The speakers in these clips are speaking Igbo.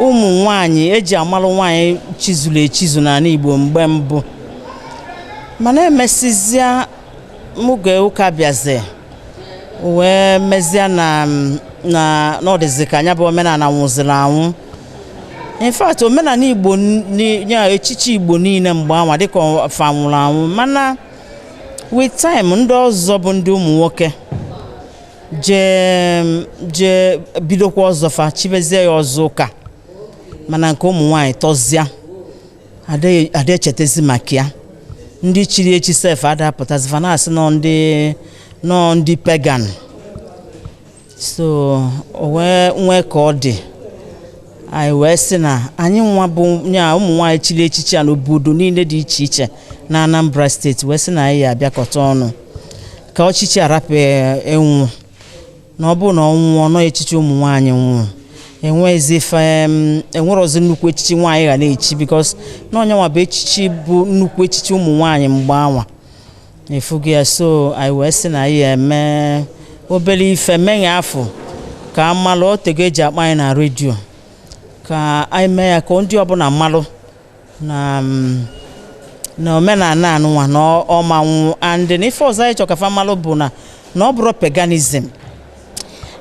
ụmụ nwanyị eji amala nwanyị chizuru echizu n'ala Igbo mgbe mbụ mana emesizia oge ụka bịazi wee mezie na na n'ọdịzi ka nya bụ omenala nwụziri anwụ in fact omenala Igbo ya echichi Igbo niile mgbe anwa dịka fa nwụrụ anwụ mana with time ndị ọzọ bụ ndị ụmụ nwoke jee jee bidokwa ọzọ fa chibezie ya ọzọ ụka mana nke ụmụ nwaanyị tọzịa adịghị- ada echetezi maka ya ndị chiri echi sef ada apụtazi fa na-asị na ọ ndị na ọ ndị pagan so o wee nwee ka ọ dị anyị wee sị na anyị nwa bụ ya ụmụ nwaanyị chiri echichi a n'obodo niile dị iche iche na Anambra steeti wee sị na anyị ya abịakọta ọnụ ka echichi a rapụ ịnwụ na ọ bụrụ na ọ nwụọ na ọ echichi ụmụ nwaanyị nwụrụ enwe- enwerọzi nnukwu echichi nwaanyị ga na-echi because na ọ nya nwa bụ echichi bụ nnukwu echichi ụmụ nwaanyị mgbe anwa ị fụgo ya so anyị wee sị na anyị eme obere ife meghe afọ ka a malụ otego eji akpọ anyị na redio ka anyị mee ya ka ndị ọbụla malụ na mm, na omenala anụnwa na ọ- ọ ma-anwụ and na ife ọzọ anyị chọrọ ka fa malụ bụ na na ọ bụrọ paganism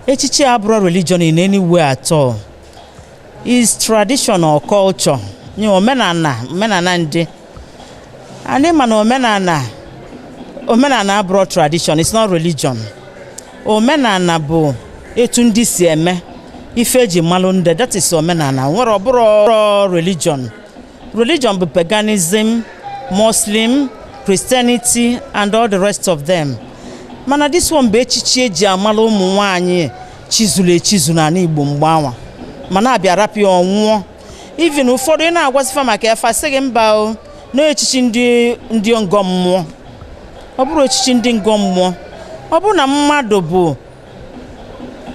echichi abụrọ religion in any way at all is tradition or culture nye omenala omenala ndị anyị ma na omenala omenala abụrọ tradition it's not religion omenala bụ etu ndị si eme ife eji malụ ndị that is omenala nwere ọ bụrọ religion religion bụ paganism muslim christianity and all the rest of them mana this one bụ echichi eji amala ụmụ nwanyị chizuru echizu n'ala igbo mgbe anwa mana a bịa rapụ ya ọ nwụọ even ụfọdụ ị na-agwasị fa maka ya fa sị gị mba o na echichi ndị ndị ngọ mmụọ ọ bụrọ echichi ndị ngọ mmụọ ọ bụrụ na mmadụ bụ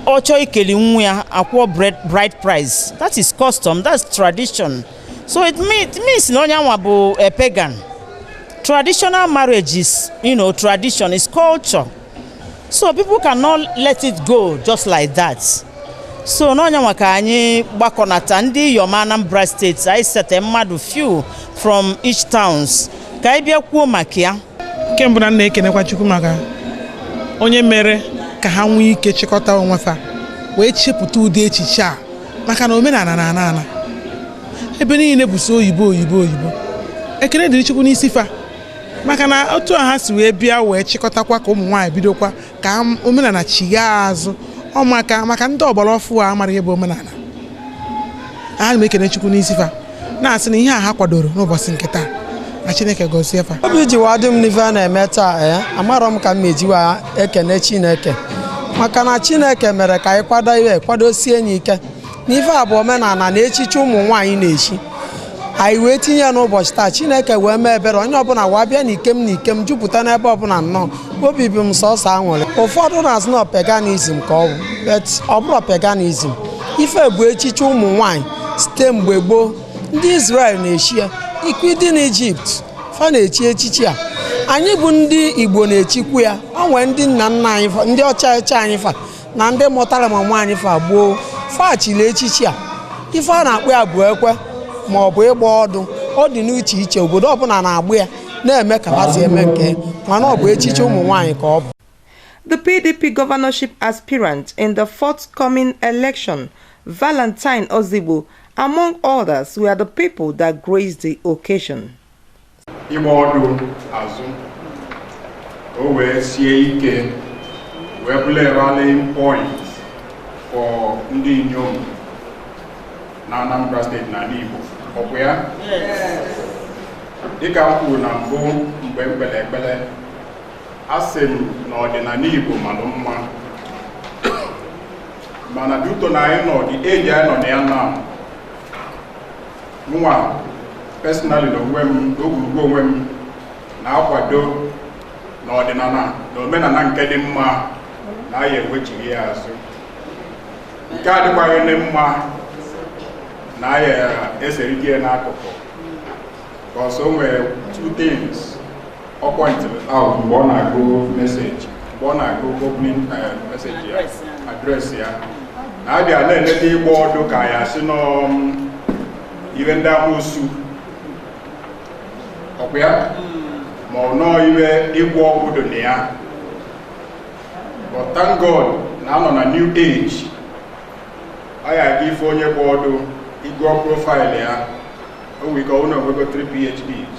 ọ chọọ ikeli nwa ya akwụọ bri- bride price that is custom that's tradition so it mean- it means na onye anwa bụ a pagan traditional marriage is you know tradition is culture so people cannot let it go just like that so na ọ nya nwa ka anyị gbakọnata ndị iyom anambra steeti anyị sete mmadụ few from each towns ka anyị bịa kwuo maka ya nke mbụ na m na-ekenekwa chukwu maka onye mere ka ha nwee ike chịkọta onwe fa wee chepụta ụdị echiche a maka na omenala na-ana ana ebe niile bụ sọ oyibo oyibo oyibo ekene dịrị chukwu n'isi fa maka na otu a ha si wee bịa wee chịkọtakwa ka ụmụ nwaanyị bidokwa ka m- omenala chighaa azụ ọ maka maka ndị ọgbara ọfụụ amara ihe bụ omenala a na m ekene chukwu n'isi fa na-asị na ihe a ha kwadoro n'ụbọchị nke taa na chineke gọzie fa obi ji wa dị m n'ife a na-eme taa ee amarọ m ka m eji wa ekene chineke maka na chineke mere ka anyị kwado ihe kwadosie anyị ike n'ife a bụ omenala na echichi ụmụ nwaanyị na-echi anyị wee tinye ya n'ụbọchị taa chineke wee mee ebere onye ọbụla wee bịa na ikem na ikem jupụta n'ebe ọbụla nnọọ obi bụ m sọsọ aṅụrị ụfọdụ na-asị na paganism ka ọ bụ but ọ bụrọ paganism ife bụ echichi ụmụ nwaanyị site mgbe gboo ndị Israel na-echi ya ikwu dị n'Ijipt fa na-echi echichi a anyị bụ ndị Igbo na-echikwu ya o nwee ndị nna nna anyị ndị ochie ochie anyị fa na ndị mụtara ma nwaanyị fa gboo fa chiri echichi a ife a na-akpọ ya bụ ekwe ma ọ bụ ịgba ọdụ ọ dị n'iche iche obodo ọbụla na-agba ya na-eme ka fa si eme nke mana ọ bụ echichi ụmụ nwaanyị ka ọ bụ The PDP governorship aspirant in the forthcoming election, Valentine Ozigbo, among others, were the people that graced the occasion. ịgba ọdụ azụ ka o wee sie ike wee bụrụ a rallying point for ndị inyom na Anambra steeti na Igbo ọkwa ya dịka m kwuru na mbụ mgbe m kpere ekpere asị m na ọdịnala Igbo malụ mma ma na-adị ụtọ na anyị nọ dị eji anyị nọ na ya na mụnwa personally na onwe m n'ogwurugwu onwe m na-akwado na ọdịnala na omenala nke dị mma na anyị ewechighi ya azụ nke adịkwaghị dị mma na anyị eserite ya n'akụkụ 'cause o nwere two things ọ pọintịrị out mgbe ọ na-agụ message mgbe ọ na-agụ opening eh, message ya address ya na a bịa na-eleta ịgba ọdụ ka ya sị n'ọọ ihe ndị amoosu ọkwa ya ma ọ n'ọọ ihe ịgwọ ọgwụ dị na ya but thank God na a nọ na new age ọ ya aga ife onye gba ọdụ ị gụọ profile ya o nwere ike ọ wụ na o nwego 3 PhDs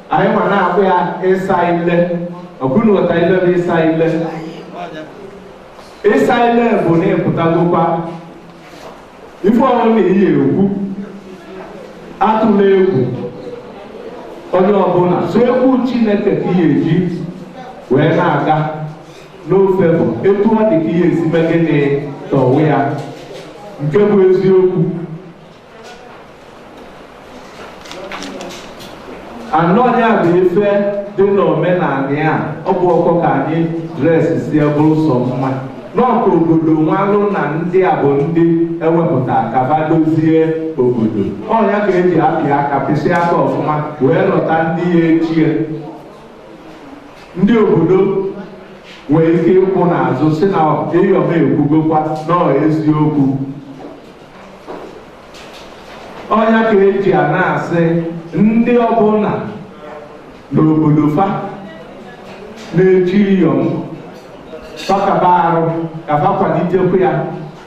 anyị ma na-akpọ ya ịsa ile ọbụna ụta ile bụ ịsa ile ịsa ile bụ na ị pụtagokwa ife ọbụna ị ya-ekwu atụla egwu onye ọbụla sọ egwu chineke ka ị ya-eji wee na-aga n'ofe bụ etu ọ dị ka ị ya-esi mee gịnị kọwaa ya nke bụ eziokwu anọ ya bụ ife dị n'omenala ya ọ bụ ọkọ ka anyị dresi si bụrụ sọ mma na ọ ka obodo malụ na ndị a bụ ndị ewepụta ka ba dozie obodo ọ nya ka eji apị aka pịsị aka ọfụma wee lọta ndị ya echie ndị obodo nwere ike ịkwụ n'azụ sị na iyom ekwugokwa na ọ eziokwu ọ nya ka eji a na-asị ndị ọbụna n'obodo fa na-echi iyom fa kaba arụ ka fa kwalitekwa ya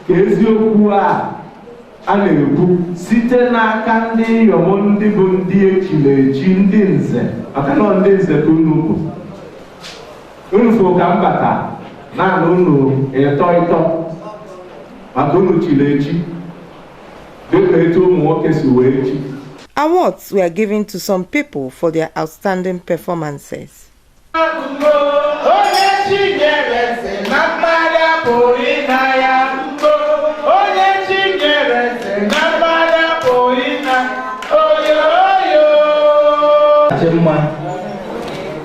ka eziokwu a a na-ekwu site n'aka ndị iyom ndị bụ ndị echiri echi ndị nze maka na ọ ndị nze ka unu bụ Unu fụ ka m bata na-ana unu ịtọ ịtọ maka unu chili echi dịka etu ụmụ nwoke si wee chi. Awards were given to some people for their outstanding performances.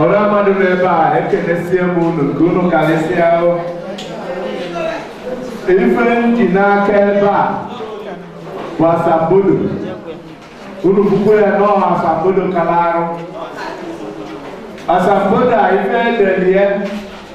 ọra mmadụ nọ ebe a ekenesie m unu nke unu karịsịa ahụ ife m ji n'aka ebe a bụ asambodo unu bụkwa ya nọọ asambodo kara arụ asambodo a ife edelie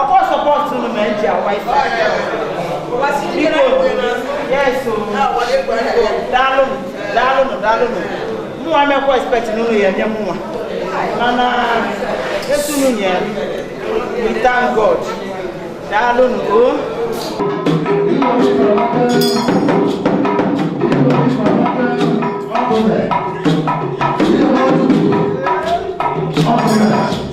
ọkwa sọpọtụ unu ma eji akwa isi biko yes o daalụnụ daalụnụ daalụnụ mụnwa mekwa expect na unu ya-enye mụnwa mana etu unu nye we thank god daalụnụ o Thank you.